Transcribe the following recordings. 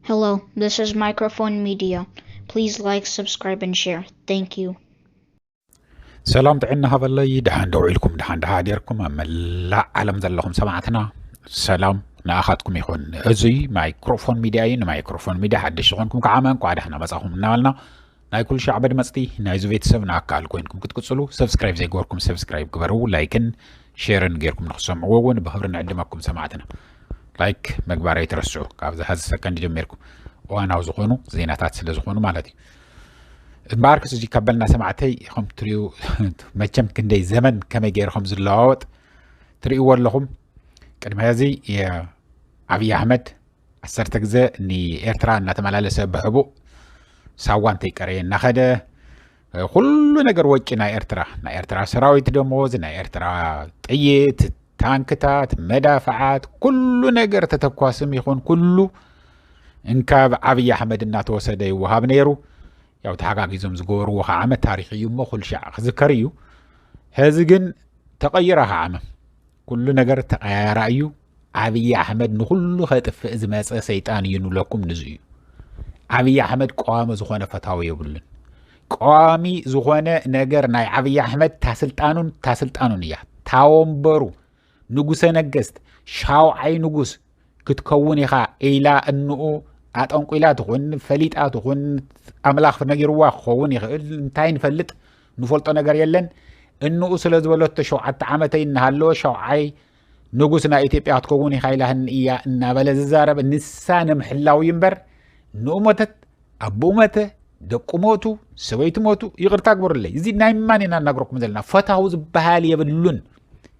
Hello, this is Microphone Media. Please like, subscribe, and share. Thank you. ሰላም ጥዕና ሃበለይ ድሓን ደው ኢልኩም ድሓን ድሓ ዴርኩም ኣብ መላእ ዓለም ዘለኹም ሰማዕትና ሰላም ንኣኻትኩም ይኹን እዚ ማይክሮፎን ሚድያ እዩ ንማይክሮፎን ሚድያ ሓደሽ ዝኾንኩም ከዓ እንኳዕ ደሕና መፃኹም እናበልና ናይ ኩሉ ሻዕ በድመፅቲ ናይ ዙ ቤተሰብና ኣካል ኮይንኩም ክትቅፅሉ ሰብስክራይብ ዘይገበርኩም ሰብስክራይብ ግበሩ ላይክን ሼርን ጌርኩም ንክትሰምዕዎ እውን ብክብሪ ንዕድመኩም ሰማዕትና ላይክ ምግባር ኣይትረስዑ ካብዚ ሀዚ ሰከንድ ጀሚርኩም እዋናዊ ዝኾኑ ዜናታት ስለ ዝኾኑ ማለት እዩ እምበኣር ክስ እዚ ካበልና ሰማዕተይ ከም ትሪኡ መቸም ክንደይ ዘመን ከመይ ገይሩ ከም ዝለዋወጥ ትርእይዎ ኣለኹም ቅድሚ ሕዚ ኣብዪ ኣሕመድ ዓሰርተ ግዘ ንኤርትራ እናተመላለሰ ብሕቡእ ሳዋ እንተይቀረየ እናኸደ ኩሉ ነገር ወጪ ናይ ኤርትራ ናይ ኤርትራ ሰራዊት ደሞዝ ናይ ኤርትራ ጥይት ታንክታት መዳፍዓት ኩሉ ነገር ተተኳስም ይኹን ኩሉ እንካብ ዓብዪ ኣሕመድ እናተወሰደ ይወሃብ ነይሩ ያው ተሓጋጊዞም ዝገበርዎ ከዓ ዓመት ታሪክ እዩ እሞ ኩልሻዕ ክዝከር እዩ ሕዚ ግን ተቐይራ ከዓ ዓመ ኩሉ ነገር ተቐያያራ እዩ ዓብዪ ኣሕመድ ንኹሉ ከጥፍእ ዝመፀ ሰይጣን እዩ ንብለኩም ንዙ እዩ ዓብዪ ኣሕመድ ቀዋሚ ዝኾነ ፈታዊ የብሉን ቀዋሚ ዝኾነ ነገር ናይ ዓብዪ ኣሕመድ ታስልጣኑን ታስልጣኑን እያ ታወንበሩ ንጉሰ ነገስት ሻውዓይ ንጉስ ክትከውን ኢኻ ኢላ እንኡ ኣጠንቁላ ትኹን ፈሊጣ ትኹን ኣምላኽ ነጊርዋ ክኸውን ይኽእል እንታይ ንፈልጥ ንፈልጦ ነገር የለን እንኡ ስለ ዝበለቶ ሸውዓተ ዓመተይ እናሃለወ ሸውዓይ ንጉስ ናይ ኢትዮጵያ ክትከውን ኢኻ ኢላህኒ እያ እናበለ ዝዛረብ ንሳ ንምሕላው እዩ እምበር ንኡ ሞተት ኣቦኡ መተ ደቁ ሞቱ ሰበይቱ ሞቱ ይቕርታ ግበሩለይ እዚ ናይ ማን ኢና እናግረኩም ዘለና ፈታዊ ዝበሃል የብሉን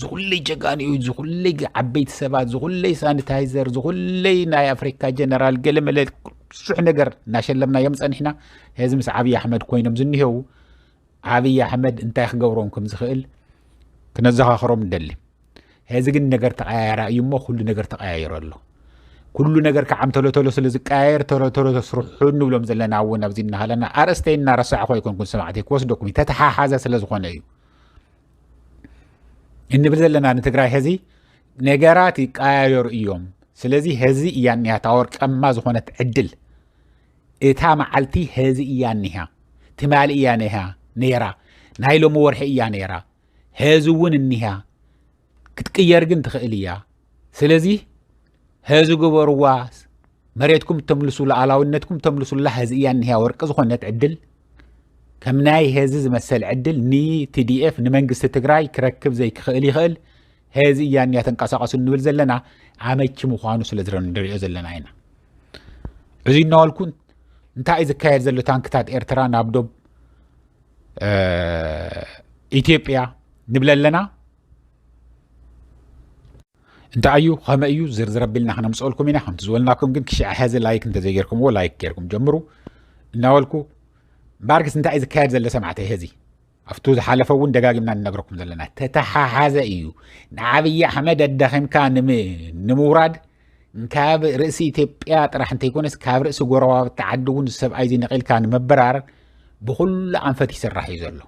ዝኹለይ ጀጋንኡ ዝኹለይ ዓበይቲ ሰባት ዝኹለይ ሳኒታይዘር ዝኹለይ ናይ ኣፍሪካ ጀነራል ገለመለ ብዙሕ ነገር እናሸለምናዮም ፀኒሕና ሕዚ ምስ ዓብዪ ኣሕመድ ኮይኖም ዝኒሄው ዓብዪ ኣሕመድ እንታይ ክገብሮም ከም ዝኽእል ክነዘኻኽሮም ንደሊ ሕዚ ግን ነገር ተቀያየራ እዩ እሞ ኩሉ ነገር ተቀያይሮ ኣሎ ኩሉ ነገር ከዓም ተሎተሎ ስለ ዝቀያየር ተሎተሎ ተስርሑ ንብሎም ዘለና እውን ኣብዚ እናሃለና ኣርእስተይ እናረሳዕኹ ኣይኮንኩን ሰማዕተይ ክወስደኩም ተተሓሓዘ ስለ ዝኾነ እዩ እንብል ዘለና ንትግራይ ሀዚ ነገራት ይቀያየሩ እዮም ስለዚ ሀዚ እያ እኒሃ እታ ወርቀማ ዝኾነት ዕድል እታ መዓልቲ ሀዚ እያ እኒሃ ትማሊ እያ ነሃ ነይራ ናይ ሎሚ ወርሒ እያ ነይራ ሀዚ እውን እኒሃ ክትቅየር ግን ትኽእል እያ ስለዚ ሀዚ ግበርዋ መሬትኩም ተምልሱ ሉዓላዊነትኩም ተምልሱላ ሀዚ እያ እኒህያ ወርቂ ዝኾነት ዕድል ከም ናይ ሀዚ ዝመሰል ዕድል ንቲዲኤፍ ንመንግስቲ ትግራይ ክረክብ ዘይክኽእል ይኽእል ሀዚ እያ እኒያ ተንቀሳቀሱ እንብል ዘለና ኣመቺ ምዃኑ ስለ ንሪኦ ዘለና ኢና እዚ እናበልኩ እንታይ እዩ ዝካየድ ዘሎ ታንክታት ኤርትራ ናብ ዶብ ኢትዮጵያ ንብለ ኣለና እንታይ እዩ ከመይ እዩ ዝርዝር ኣቢልና ክነምፅኦልኩም ኢና ከምቲ ዝበልናኩም ግን ክሽዕ ሕዚ ላይክ እንተዘይጌርኩምዎ ላይክ ጌርኩም ጀምሩ እናበልኩ ባርግስ እንታይ እዩ ዝካየድ ዘሎ ሰማዕተይ ሕዚ ኣብቱ ዝሓለፈ እውን ደጋጊምና ንነግረኩም ዘለና ተተሓሓዘ እዩ ንዓብዪ ኣሕመድ ኣዳኺምካ ንምውራድ ካብ ርእሲ ኢትዮጵያ ጥራሕ እንተይኮነስ ካብ ርእሲ ጎረባብቲ ዓዲ እውን ሰብኣይ እዚ ነቒልካ ንምብራር ብኩሉ ኣንፈት ይስራሕ እዩ ዘሎ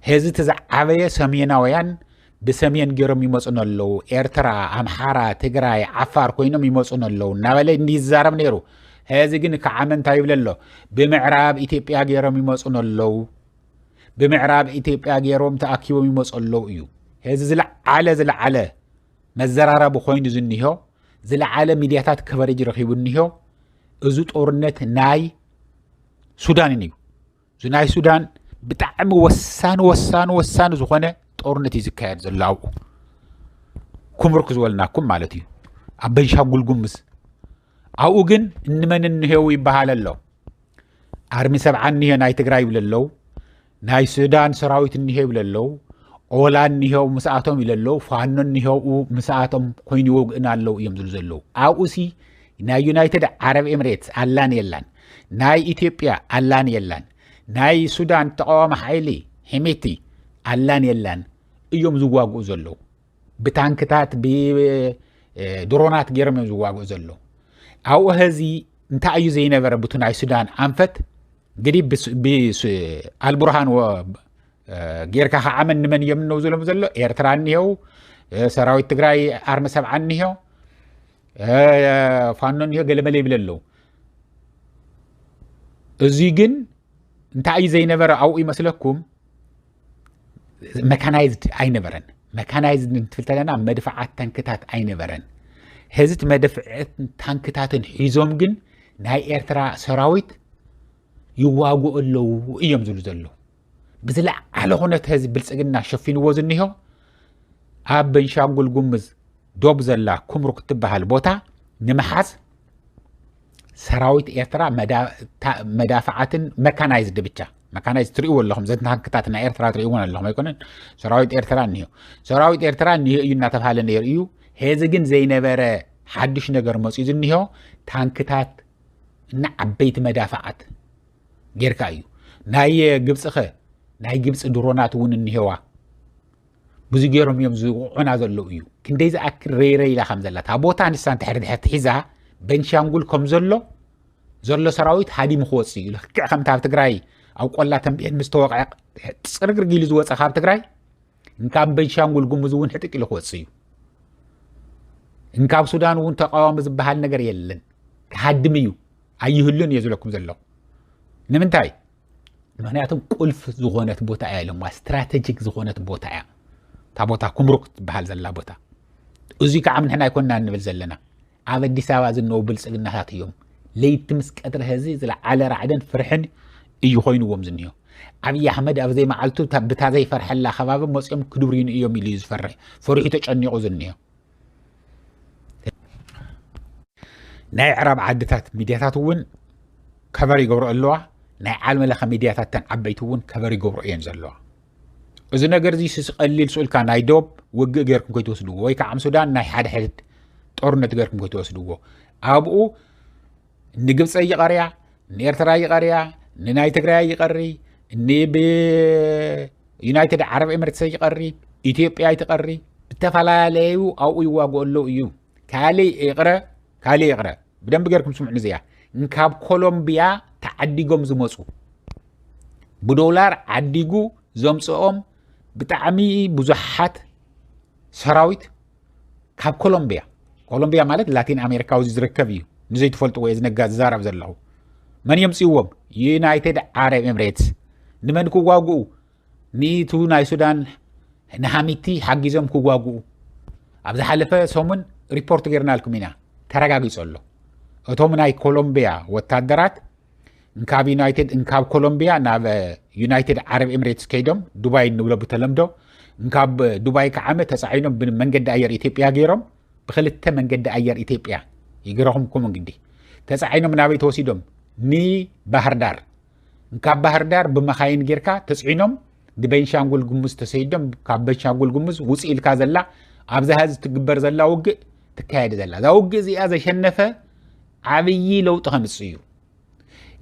ህዚ እቲ ዝዓበየ ሰሜናውያን ብሰሜን ገይሮም ይመፁን ኣለዉ ኤርትራ ኣምሓራ ትግራይ ዓፋር ኮይኖም ይመፁን ኣለዉ እናበለ ይዛረብ ነይሩ ህዚ ግን ከዓመ እንታይ ይብለ ኣሎ ብምዕራብ ኢትዮጵያ ገይሮም ይመፁን ኣለዉ ብምዕራብ ኢትዮጵያ ገይሮም ተኣኪቦም ይመፁ ኣለዉ እዩ ህዚ ዝለዓለ ዝለዓለ መዘራረቢ ኮይኑ ዝኒሆ ዝለዓለ ሚድያታት ከቨሬጅ ረኪቡ እኒሆ እዚ ጦርነት ናይ ሱዳንን እዩ እዚ ናይ ሱዳን ብጣዕሚ ወሳኒ ወሳኒ ወሳኒ ዝኾነ ጦርነት እዩ ዝካየድ ዘሎ ኣብኡ ኩምርክ ዝበልናኩም ማለት እዩ ኣብ በንሻንጉል ጉምዝ ኣብኡ ግን እንመን እንሄው ይበሃል ኣሎ ኣርሚ ሰብዓ እኒሄ ናይ ትግራይ ይብለ ኣለዉ ናይ ሱዳን ሰራዊት እኒሄ ይብለ ኣለዉ ኦላ እኒሄው ምስኣቶም ይብለ ኣለዉ ፋኖ እኒሄው ምስኣቶም ኮይኑ ይወግእና ኣለዉ እዮም ዝብሉ ዘለዉ ኣብኡሲ ናይ ዩናይትድ ዓረብ ኤምሬትስ ኣላን የላን ናይ ኢትዮጵያ ኣላን የላን ናይ ሱዳን ተቃዋሚ ሓይሊ ሒሜቲ ኣላን የላን እዮም ዝዋግኡ ዘለዉ ብታንክታት ብድሮናት ገይሮም እዮም ዝዋግኡ ዘሎ ኣብኡ ሀዚ እንታይ እዩ ዘይነበረ ብቱ ናይ ሱዳን ኣንፈት እንግዲህ ኣልቡርሃን ጌርካ ከዓ መን ንመን እዮም እነው ዝሎም ዘሎ ኤርትራ እኒሄው ሰራዊት ትግራይ ኣርሚ ሰብዓ እኒሄ ፋኖ እኒሄ ገለመለ ይብል ኣለዉ እዙይ ግን እንታይ እዩ ዘይነበረ ኣብኡ ይመስለኩም መካናይዝድ ኣይነበረን መካናይዝድ እንትብል ተለና መድፍዓት ታንክታት ኣይነበረን ሕዚ እቲ መድፍዕትን ታንክታትን ሒዞም ግን ናይ ኤርትራ ሰራዊት ይዋግኡ ኣለዉ እዮም ዝብሉ ዘለዉ ብዝለዓለ ኩነት ህዝቢ ብልፅግና ሸፊንዎ ዝኒሆ ኣብ በንሻንጉል ጉምዝ ዶብ ዘላ ኩምሩክ ትበሃል ቦታ ንምሓዝ ሰራዊት ኤርትራ መዳፍዓትን መካናይዝድ ብቻ መካናይዝ ትሪእዎ ኣለኹም ዘትናክታት ናይ ኤርትራ ትሪእዎን ኣለኹም ኣይኮነን ሰራዊት ኤርትራ እኒሆ ሰራዊት ኤርትራ እኒሆ እዩ እናተባሃለ ነይሩ እዩ ሄዚ ግን ዘይነበረ ሓዱሽ ነገር መፅኡ ዝኒሆ ታንክታት እና ዓበይቲ መዳፍዓት ጌርካ እዩ ናይ ግብፂ ኸ ናይ ግብፂ ድሮናት እውን እኒሄዋ ብዙ ገይሮም እዮም ዝውቕዑና ዘለዉ እዩ ክንደይ ዝኣክል ረይረይ ኢላ ከም ዘላ እታ ቦታ ንሳ እንተሕሪ ድሕር ትሒዛ በንሻንጉል ከም ዘሎ ዘሎ ሰራዊት ሃዲሙ ክወፅእ እዩ ልክዕ ከምቲ ኣብ ትግራይ ኣብ ቆላ ተንቤን ምስ ተወቕዐ ፅርግርግ ኢሉ ዝወፀ ካብ ትግራይ እንካብ በንሻንጉል ጉሙዝ እውን ሕጥቅ ኢሉ ክወፅእ እዩ እንካብ ሱዳን እውን ተቃዋሚ ዝበሃል ነገር የለን ክሃድም እዩ ኣይህሉን እየ ዝብለኩም ዘለኹ ንምንታይ ምክንያቱ ቁልፍ ዝኾነት ቦታ እያ ኢሎማ ስትራተጂክ ዝኾነት ቦታ እያ እታ ቦታ ኩምሩክ ትበሃል ዘላ ቦታ እዙይ ከዓ ንሕና ኣይኮና ንብል ዘለና ኣብ ኣዲስ ኣበባ ዝነው ብልፅግናታት እዮም ለይቲ ምስ ቀትሪ ህዚ ዝለዓለ ራዕድን ፍርሕን እዩ ኮይኑዎም ዝኒሆ ኣብዪ ኣሕመድ ኣብ ዘይመዓልቱ ብታ ዘይፈርሐላ ከባቢ መፅኦም ክድብርዩን እዮም ኢሉ እዩ ዝፈርሕ ፈሪሑ ተጨኒቑ ዝኒሆ ናይ ዕራብ ዓድታት ሚድያታት እውን ከበር ይገብሮ ኣለዋ ናይ ዓለመ ለኸ ሚድያታት ተን ዓበይቲ እውን ከበር ይገብሮ እየን ዘለዋ እዚ ነገር እዚ ቀሊል ስኡልካ ናይ ዶብ ውግእ ገርኩም ከይትወስድዎ ወይ ከዓ ሱዳን ናይ ሓደ ሕድድ ጦርነት ገርኩም ከይትወስድዎ ኣብኡ ንግብፀ ይቐርያ ንኤርትራ ይቐርያ ንናይ ትግራይ ይቐሪ ንዩናይትድ ዓረብ ኤምሬትሰ ይቐሪ ኢትዮጵያ ይትቐሪ ዝተፈላለዩ ኣብኡ ይዋግኡ ኣለዉ እዩ ካልእ ይቕረ ካልእ ይቕረ ብደንብ ጌርኩም ስምዑ እዚኣ ካብ ኮሎምቢያ ተዓዲጎም ዝመፁ ብዶላር ዓዲጉ ዘምፅኦም ብጣዕሚ ብዙሓት ሰራዊት ካብ ኮሎምብያ ኮሎምብያ ማለት ላቲን ኣሜሪካዊ ዝርከብ እዩ ንዘይትፈልጥዎ እየ ዝነጋ ዝዛረብ ዘለኹ መን የምፅዎም ዩናይትድ ዓረብ ኤምሬትስ ንመን ክዋግኡ ንቱ ናይ ሱዳን ንሃሚቲ ሓጊዞም ክዋግኡ ኣብ ዝሓለፈ ሰሙን ሪፖርት ገይርናልኩም ኢና ተረጋጊፆ ኣሎ እቶም ናይ ኮሎምብያ ወታደራት እንካብ ዩናይትድ እንካብ ኮሎምቢያ ናብ ዩናይትድ ዓረብ ኤምሬትስ ከይዶም ዱባይ እንብሎ ብተለምዶ እንካብ ዱባይ ከዓመ ተፃዒኖም ብመንገዲ ኣየር ኢትዮጵያ ገይሮም ብክልተ መንገዲ ኣየር ኢትዮጵያ ይገረኹም ኮም እንግዲ ተፃዒኖም ናበይ ተወሲዶም ንባህር ዳር እንካብ ባህር ዳር ብመካይን ጌርካ ተፅዒኖም ንቤንሻንጉል ጉሙዝ ተሰይዶም ካብ ቤንሻንጉል ጉሙዝ ውፅ ኢልካ ዘላ ኣብዛ ህዚ ትግበር ዘላ ውግእ ትካየድ ዘላ እዛ ውግእ እዚኣ ዘሸነፈ ዓብዪ ለውጢ ከምፅእ እዩ።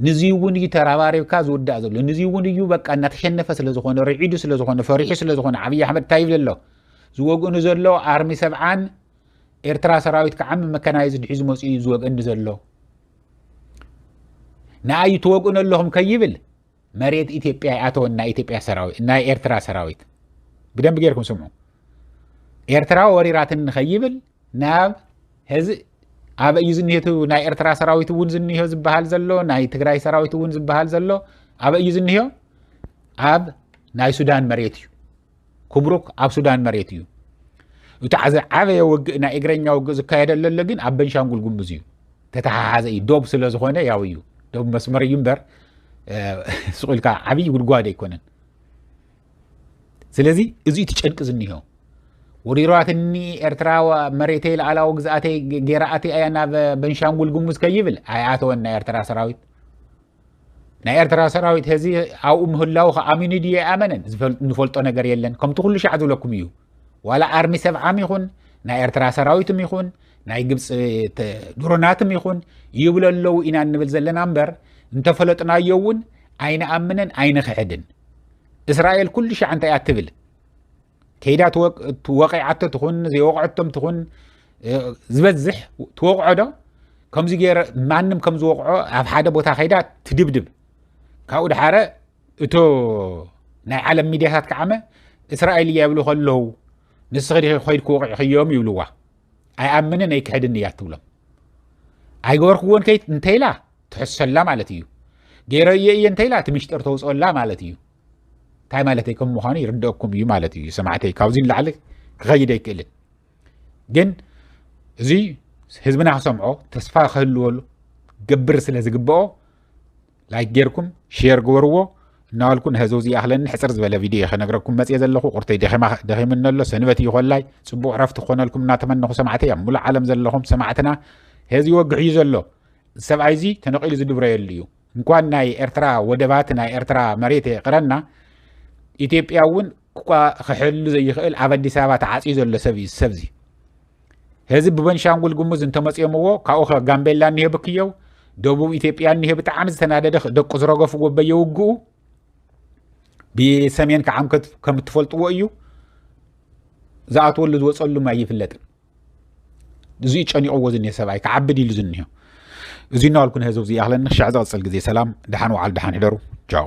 ንዚ እውን እዩ ተረባሪብካ ዝውዳእ ዘሎ ንዚ እውን እዩ በቃ እናተሸነፈ ስለ ዝኾነ ርዒዱ ስለ ዝኾነ ፈሪሑ ስለ ዝኾነ ዓብዪ ኣሕመድ እንታይ ይብል ኣሎ ዝወግእኑ ዘሎ ኣርሚ ሰብዓን ኤርትራ ሰራዊት ከዓ መከናይዝድ ሒዙ መፅኡ እዩ ዝወግእኒ ዘሎ ንኣዩ ትወግእኑ ኣለኹም ከይብል መሬት ኢትዮጵያ ይኣተወን ናይ ኢትዮጵያ ሰራዊት ናይ ኤርትራ ሰራዊት ብደንብ ጌርኩም ስምዑ ኤርትራ ወሪራትን ንኸይብል ናብ ሐዚ ኣበይ እዩ ዝኒሄቱ ናይ ኤርትራ ሰራዊት እውን ዝኒሆ ዝበሃል ዘሎ ናይ ትግራይ ሰራዊት እውን ዝበሃል ዘሎ ኣበይ እዩ ዝኒሆ ኣብ ናይ ሱዳን መሬት እዩ ኩብሩክ ኣብ ሱዳን መሬት እዩ እቲ ዓዘ ዓበየ ውግእ ናይ እግረኛ ውግእ ዝካየደሉ ኣሎ ግን ኣብ በንሻንጉል ጉምዝ እዩ ተተሓሓዘ እዩ ዶብ ስለ ዝኾነ ያው እዩ ዶብ መስመር እዩ እምበር ስቑኢልካ ዓብዪ ጉድጓድ ኣይኮነን ስለዚ እዚ እቲ ጨንቂ ዝኒሆ ወሪራትኒ ኤርትራ መሬተይ ላዕላዊ ግዝኣተይ ጌራኣቲ ኣያ ናብ በንሻንጉል ጉሙዝ ከይብል ኣይኣተወን ናይ ኤርትራ ሰራዊት ናይ ኤርትራ ሰራዊት ህዚ ኣብኡ ምህላው ከኣሚኑ ድዩ ኣይኣመነን ዝፈልጦ ነገር የለን ከምቲ ኩሉ ሻዕ ዝብለኩም እዩ ዋላ ኣርሚ ሰብዓም ይኹን ናይ ኤርትራ ሰራዊትም ይኹን ናይ ግብፂ ድሮናትም ይኹን ይብለ ኣለዉ ኢና እንብል ዘለና እምበር እንተፈለጥናዮ እውን ኣይንኣምንን ኣይንክሕድን እስራኤል ኩሉ ሻዕ እንታይ እያ ትብል ከይዳ ወቂዓቶ ትኹን ዘይወቕዐቶም ትኹን ዝበዝሕ ትወቕዖ ዶ ከምዚ ገይረ ማንም ከም ዝወቕዖ ኣብ ሓደ ቦታ ከይዳ ትድብድብ ካብኡ ድሓረ እቶ ናይ ዓለም ሚድያታት ከዓመ እስራኤል እያ ይብሉ ከለዉ ንስኺ ዲኺ ኮይድኪ ወቂዕኽዮም ይብልዋ ኣይኣምንን ኣይክሕድን እያ እትብሎም ኣይገበርክዎን ከይት እንተይላ ትሕሰላ ማለት እዩ ገይረ እየ እየ እንተይላ እቲ ምሽጥር ተውፅኦላ ማለት እዩ እንታይ ማለት ከም ምዃኑ ይርደአኩም እዩ ማለት እዩ ሰማዕተይ ካብዚ ንላዕሊ ክኸይድ ኣይክእልን ግን እዚ ህዝብና ክሰምዖ ተስፋ ክህልወሉ ገብር ስለ ዝግብኦ ላይክ ጌርኩም ሼር ግበርዎ እናበልኩ ንሕዚ ውዚ ይኣኽለኒ ሕፅር ዝበለ ቪድዮ ከነግረኩም መፅየ ዘለኹ ቁርተይ ደኺምኒ ኣሎ ሰንበት እዩ ኮላይ ፅቡቕ ረፍቲ ክኾነልኩም እናተመነኹ ሰማዕቲ ኣብ ሙሉእ ዓለም ዘለኹም ሰማዕትና ሕዚ ይወግሕ እዩ ዘሎ ሰብኣይ እዚ ተነቂሉ ዝድብረየሉ እዩ እንኳን ናይ ኤርትራ ወደባት ናይ ኤርትራ መሬት የቕረና ኢትዮጵያ እውን ክሕሉ ዘይኽእል ኣብ ኣዲስ ኣበባ ተዓፅዩ ዘሎ ሰብ እዩ ሰብዚ ህዝብ ብበንሻንጉል ጉሙዝ እንተመፅዮምዎ ካብኡ ከ ጋምቤላ እኒሄ ብክየው ደቡብ ኢትዮጵያ እኒሄ ብጣዕሚ ዝተናደደ ደቁ ዝረገፍዎ በየውግኡ ብሰሜን ከዓ ከም እትፈልጥዎ እዩ ዝኣትወሉ ዝወፀሉ ኣይፍለጥን እዚ ጨኒቕዎ ዝኒሄ ሰብኣይ ክዓብድ ኢሉ ዝኒሄ እዚ እናበልኩ ንህዝብ እዚ ይኣኽለኒ ክሻዕ ዝቕፅል ግዜ ሰላም ድሓን ውዓል ድሓን ሕደሩ ቻው